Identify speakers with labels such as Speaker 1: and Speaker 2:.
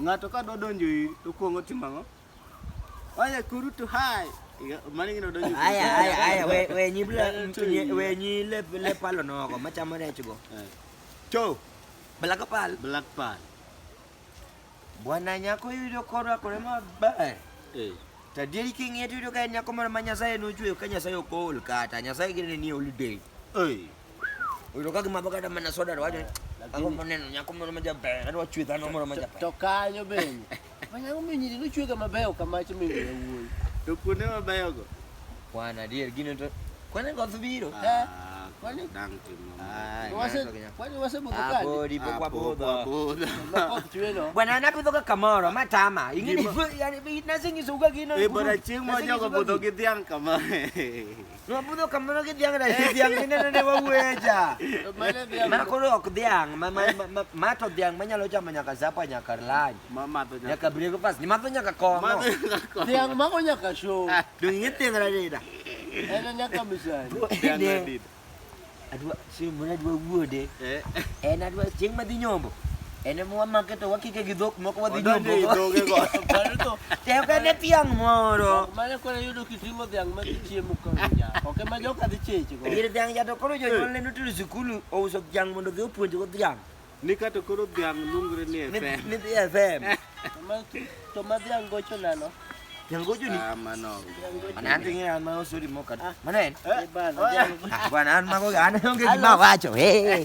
Speaker 1: Ng'ato ka dwa donjo
Speaker 2: iri to okuongo timo ang'o? Oye kurutu hai. Iga- Mano ing'e ni odonjo. Aya, aya, aya, we,
Speaker 1: we nyi bla, nye- we nyi le, le palo nogo, machamo rech go. Eh, Cho,
Speaker 2: bala ka
Speaker 1: pal. Black Pearl. Bwana nyako yudo korwakore maber. Eh. To adieri king'iye to yudo ka en nyako moro ma Nyasaye nochweyo ka Nyasaye ok ool kata. Nyasaye gene ni holiday. Oi. Utoka kimabo kata mana soda wajo. Ako moneno nyako moro majaber, adwa chwe dhano moro majaber. To kanyo bende.
Speaker 3: Manyako minyiri nochwe kama beyo kama chimi wuoyi. To kuonde mabeyo
Speaker 2: go. Kwan adier
Speaker 1: gino to kwan en koth biro. Eh? Ah, kwan
Speaker 2: dang timo. Ah,
Speaker 3: kwan wase budho ah, kadi. Apodi pok wabudho.
Speaker 1: Bwana
Speaker 3: anapidho ka
Speaker 1: kamoro matama. Ingini yani nasinyiso uga gino. E bora chieng' moja go
Speaker 2: budho gi dhiang' kama.
Speaker 1: Nwabudo kamano gi dhiang' dahi dhiang' mine nene wawueja. Mane dhiang'. Ma koro ok dhiang', ma ma ma- ma- ma to dhiang' manyalo chamo nyaka sapa nyaka lunch. Ma madho nyaka. Nyaka
Speaker 2: breakfast, ni madho
Speaker 1: nyaka kong'o. Madho nyaka. Dhiang' mago
Speaker 3: nyaka show. Dong' ing'e dhiang' radida.
Speaker 1: En nyaka
Speaker 3: misani. Dhiang' Dine- radida. adwa
Speaker 1: chieng' moro adwa wuode eh. en adwa chieng' madhi nyombo en ema wamake to wakike gi dhok moko wadhi nyombogoteokene
Speaker 3: e dhiang'
Speaker 1: moro mane koro yudo
Speaker 3: kiting'o dhiang' ma gichiemo kaoke ma joka dhi chechgo ir dhiang' ja to koro
Speaker 1: jonyuolne notero sikul ouso dhiang' mondo dhi opuonjgo dhiang' Ni ka to koro
Speaker 2: dhiang' luongre ni Ni- FM. ni dhi FM
Speaker 3: To ma dhiang' gocho nano. Dhiang' gocho ni
Speaker 1: Ah, mano. Mana
Speaker 2: an ting'e
Speaker 1: an ma osori moka Mana en Eh, bana, dhiang'
Speaker 3: gocho. Ah, Bwana
Speaker 1: an mago an onge gima awacho hey.